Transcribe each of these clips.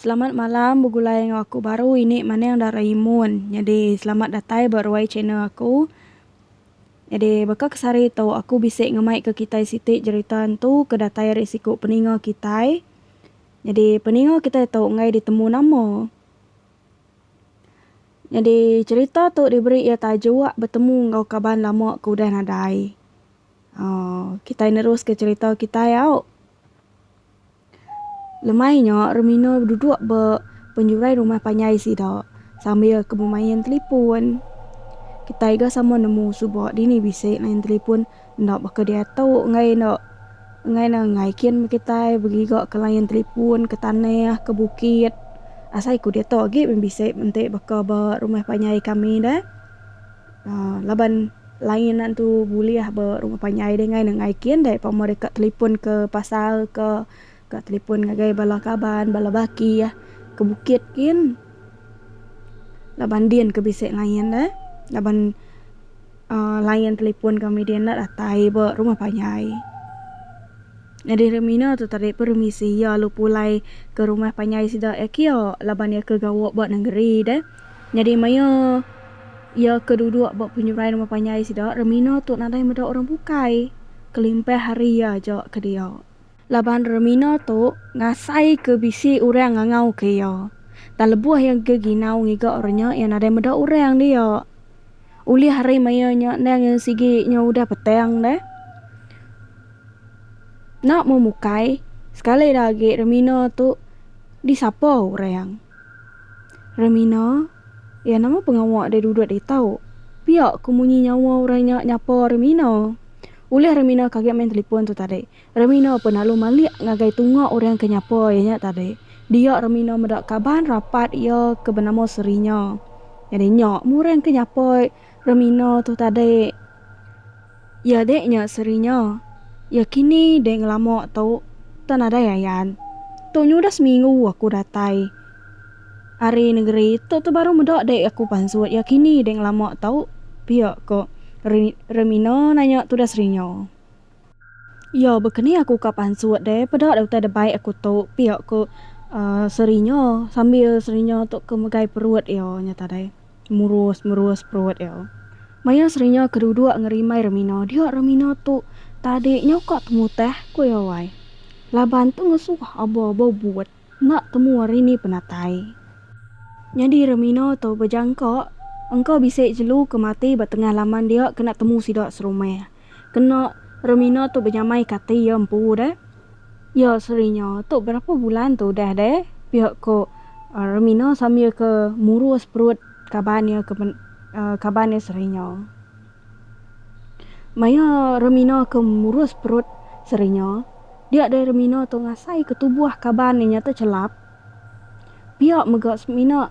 Selamat malam begulai enggau aku baru ini maning Doraemon nyadi selamat datai ba ruai channel aku nyadi baka ke sehari tu aku bisi ngemai ke kitai siti jerita ntu ke datai ari siku peninga kitai nyadi peninga kitai tu enggai ditemu nama. Nyadi cherita tu diberi iya tajuk Betemu enggau Kaban Lama ke Udah Nadai. Aaa kitai neruska cherita kitai au. Lemai nya Rumino beduduk ba penjurai rumah panjai sida sambil ke bemain telefon. Kitai ga sama nemu suba dini bisi main telefon. Enda baka diatu enggai enda enggai ne enggai kin meh kitai begiga ke line telefon ke tanah ke bukit asai ku diatu agi meh bisi enti baka ba rumah panjai kami da uhh laban line antu bulih ba rumah panjai deh enggai ne enggai kin deh pemeri ka telefon ke pasar ka. Ka telefon ngagai bala kaban, bala baki eh ke bukit gin. Laban din ke bisi line eh. Laban uhh line telefon kami din enda datai ba rumah panjai. Nyadi hari mina tu tadi pun ru misi iya lalu pulai ke rumah panjai sida eh kia laban iya ke gawa ba nengeri deh. Nyadi maioh iya ke duduk ba penyurai rumah panjai sida, rami nya tu nadai meda orang bukai kelimpah hari iya aja ke dia. Laban Remina tu ngasaika bisi orang ngangauka iya, tang lebuh iya engka ginau ngiga orang nya, iya nadai meda orang dia. Ulih ari maya nya endang iya sigi nya udah petang deh. Enda mung bukai, sekali dah agi Remina tu disapa orang. Remina, iya nama pengawa deh duduk ditu. Pia ku munyi nyawa orang nya nyapa Remina. Ulih Remina kaga main telefon tu tadi. Remino pun lalu malik ngagai tunga orang ke nyapa iya nya tadi. Dia Remino meda kaban rapat iya ke benama Serinya. Nyadi nya meh orang ke nyapa Remino tu tadi iya dek nya Serinya. Iya kini dek ngelama tu tau nadai ayan. Tu nya udah seminggu aku datai ari nengeri tu tu baru meda dek aku pansut iya kini dek ngelama tu pia ko Re Remino nanya tudah Serinya. Iyo, baka ni aku ka pansut deh, peda deh utai deh baik aku tu, pia ko Serinyo sambil Serinyo tu ke megai perut iyo nyata deh murus murus perut iyo. Maya Serinyo ke duduk ngerimbai Remino, dia Remino tu tadi nyo ka temuteh, ko iyo wai. Laban tu ngesuh abo abo but. Enda temu hari ni penatai. Nyadi Remino tu bejangka engka bisi jelu ke mati ba tengah laman dia kena temu sida serumah. Kena Remino tu benyamaika ati iya empu deh. Ya Serinyo, tu berapa bulan tu udah deh, pia ko Remino sambil ke murus perut kaban iya ke kaban iya Serinyo. Maya remina ke murus perut serinya, dia deh remina tu ngasai ke tubuh kaban inya tu chelap. Pia mega semina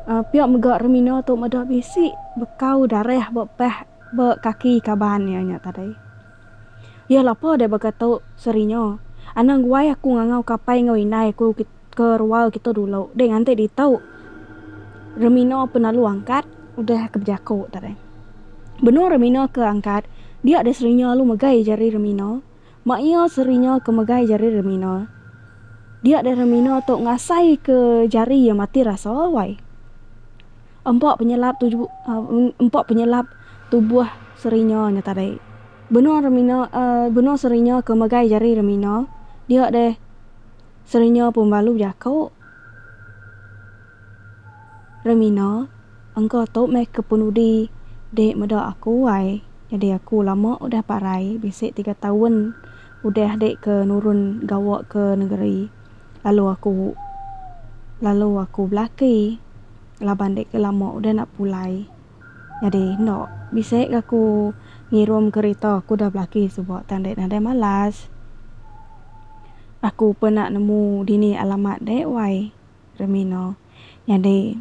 uhh pia mega remina tu meda bisi bekau darah ba pah ba kaki kaban iya nya tadi. Iya lapa deh baka tu seri nya. Anang guai aku ngangau ke apai enggau indai aku ke rual kita dulu deh nganti ditu Remina penalu angkat. Udah ke bejaku tu deh. Benung Remina ke angkat, dia deh seri nya lalu megai jari Remina. Mak iya seri nya ke megai jari Remina. Dia deh Remina tu ngasai ke jari iya mati rasa alai. Empa penyelap tu empa penyelap tubuh Serina nya tadi. Benung Remina benung Serina ke megai jari Remina dia deh Serina pun belalu bejako. Remina, engka tu meh ke penudi dek meda aku ai nyadi aku lama udah parai bisi tiga taun udah dek ke nurun gawa ke negeri. lalu aku lalu aku belaki laban dek ke lama udah nak pulai nyadi enda bisi ga aku ngirum kereta aku udah belaki suba tang dek nadai malas aku pun nak nemu dini alamat dek wai Remina nyadi.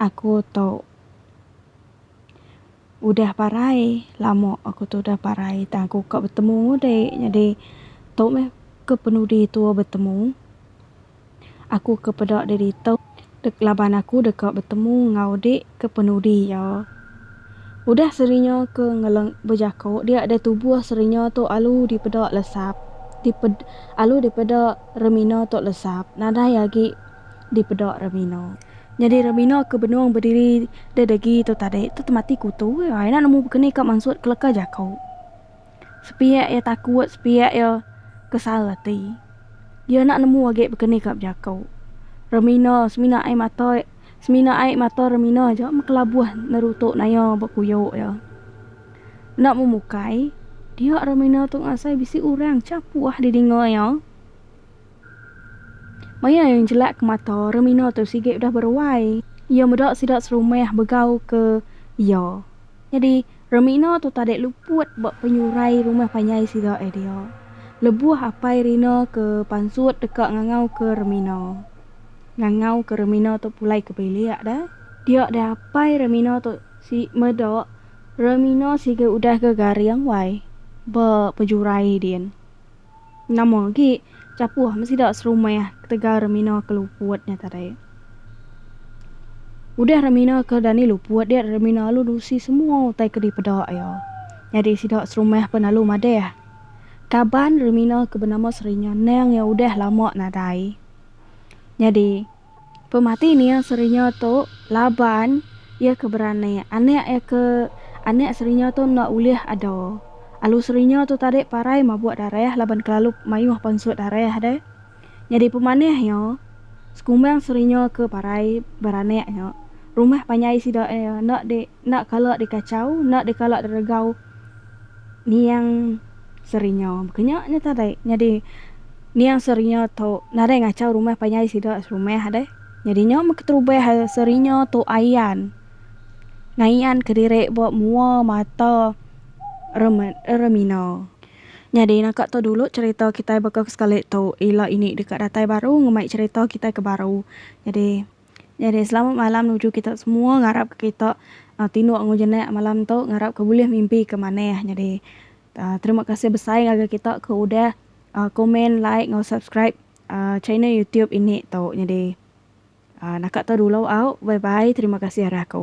Aku tu udah parai lama aku tu udah parai tang aku ka betemu udi jadi tu meh ke penudi tu betemu aku ke peda deh ditu laban aku deka betemu enggau udi ke penudi iya udah serinya ke ngeleng bejaku dia deh tubuh serinya tu alu dipeda lesap dipeda alu dipeda remina tu lesap nadai agi dipeda Ramino. Nyadi Ramino ke benung bediri de degi tu tadi tu temati kutu iya. Ina nemu bekeni ka mansut keleka jaku. Sepiak iya takut, sepiak iya kesal ati. Iya enda nemu agi bekeni ka bejaku. Ramino semina ai mata iya, semina ai mata Ramino aja mekelabuh nerutu naya ba kuyo iya. Enda mung mukai, dia Ramino tu ngasai bisi orang chapuh didinga iya. Maya iya njelakka mata, Remina tu sigi udah beruai. Iya meda sida serumah begauka iya. Nyadi, Remina tu tadi luput ba penyurai rumah panjai sida ai dia. Lebuh Apai Rina ke pansut deka ngangauka Remina. Ngangauka Remina tu pulai ke bilik deh. Dia deh apai Remina tu sigi meda Remina sigi udah ke garing wai ba pejurai din. Nama agi chapuh meh sida serumah ketegal remina ke luput nya tadi. Udah remina ke dani luput dia remina lalu nusi semua utai ke dipeda iya. Nyadi sida serumah pun lalu madah kaban remina ke benama Sri nya endang iya udah lama nadai. Nyadi. Pemati nia Serinyo tu laban iya ke berani. Anak iya ke anak Serinyo tu enda ulih ada. Alu Serinyo tu tadi parai mabuk darah laban kelalu mayuh pansut darah deh. Nyadi pemanih iya, sekumbang Serinyo ke parai beranak nya, rumah panjai sida iya enda di Enda kala dikachau, enda dikala diregau Niang Serinya. Kenya nya tadi. Nyadi Niang Serinya tu nadai ngachau rumah panjai sida serumah deh. Nyadi nya meh keterubah Serinya tu ayan ngayan ke diri ba mua mata reme remina. Nyadi naka tu dulu cherita kitai baka sekali tu ila ini deka datai baru ngemai cherita kitai ke baru. Nyadi. Jadi selamat malam nuju kita semua ngarap ka kita tinduk enggau jenak malam tu ngarap ka bulih mimpi ka manah jadi terima kasih besai ngagai kita ke udah komen like enggau subscribe channel youtube ini tu jadi naka tu dulu au bye bye terima kasih arah aku.